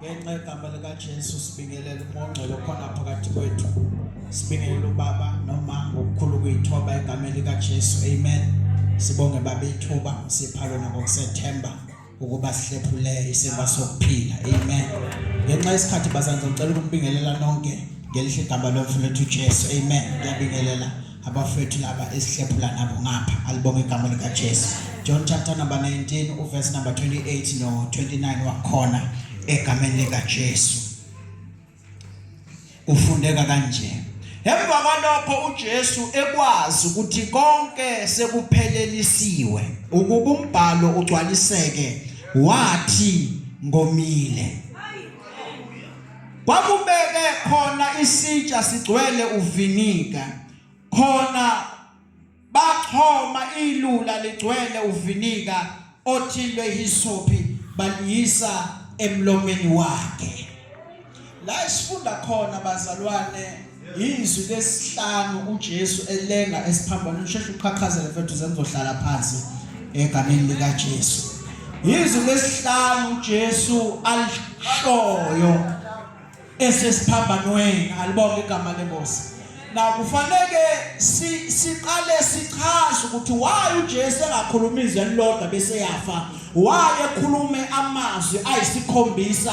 ngenxa yegama likaJesu sibingelela umongcwele khona phakathi kwethu sibingelela ubaba noma ngokukhulu kuyithoba egameni likaJesu amen sibonge baba ithuba sipha lona ngokusethemba ukuba sihlephule isemba sokuphila amen ngenxa yesikhathi bazange ngicela ukumbingelela nonke ngelihle igama lomfowethu uJesu amen ngiyabingelela abafethu laba esihlephula nabo ngapha alibonga igama likaJesu John chapter number 19 uverse number 28 no 29 wakhona egameni likaJesu ufundeka kanje Emva kwalokho uJesu ekwazi ukuthi konke sekuphelelisiwe ukuba umbhalo ugcwaliseke wathi ngomile Kwakubeke khona isitsha sigcwele uviniga. Khona baxhoma ilula ligcwele uviniga othilwe hisophi baliyisa emlomeni wakhe. La esifunda khona bazalwane Izwi lesihlanu uJesu elenga esiphambanweni usheshe uqhaqhazele mfethu sengizohlala phansi egameni lika Jesu. Izwi lesihlanu uJesu alishoyo esesiphambanweni alibonga igama lenkosi. Na kufanele siqale sichaze ukuthi why uJesu engakhuluma izwi elilodwa bese yafa. Why ekhulume amazwi ayisikhombisa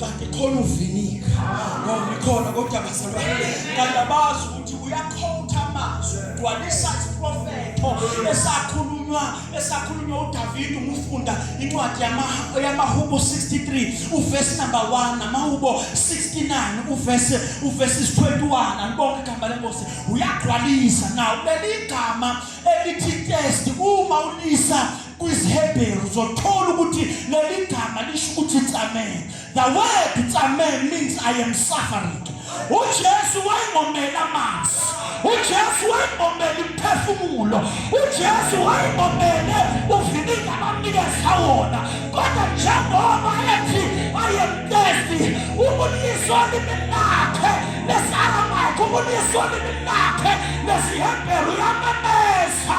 kanti khona uvinika ngoba ikhona kodwa bazalwane kanti abazi ukuthi uyakhotha amazwi ugcwalisa isiprofetho esakhulunywa esakhulunywa uDavid umufunda incwadi yamahubo 63 uverse number 1 namahubo 69 uverse uverse 21 anibonke igama lenkosi uyagcwalisa nawo leli gama elithi test uma ulisa KwisiHebheru uzothola ukuthi leli gama lisho ukuthi tsamen. The word tsamen means I am suffering. UJesu wayengomele amanzi. UJesu wayengomele imphefumulo. UJesu wayengomele uvininga abamnikeza wona. Kodwa njengoba ethi I am thirsty, ubuliso limi lakhe lesi-Aramaic, ubuliso limi lakhe lesiHebheru yamemeza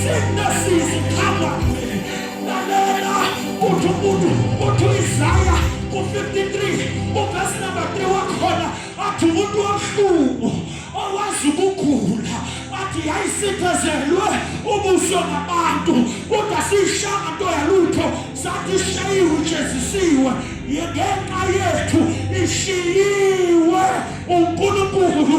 Sicknesses come on me. Lalela uthi umuntu uthi uIsaya u-53 uvesi number 3 wakhona athi umuntu wamhlubu owazi ukugula athi yayisiphezelwe ubuso ngabantu kodwa siyishanga nto yalutho sathi ishayiwe ijezisiwe ngenxa yethu ishiyiwe uNkulunkulu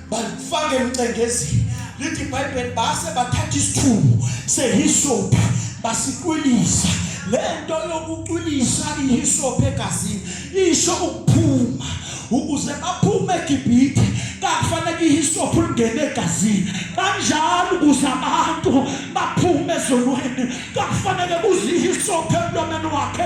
balifake emcengezini lithi ibhayibheli base bathatha isithumo sehisophi basiqwilisa le nto yokuqwilisa ihisophi egazini isho ukuphuma ukuze baphume egibhithe kakufanele ihisophi ulingene egazini kanjalo ukuze abantu baphume ezonweni kakufanele kuze ihisophi emlomeni wakhe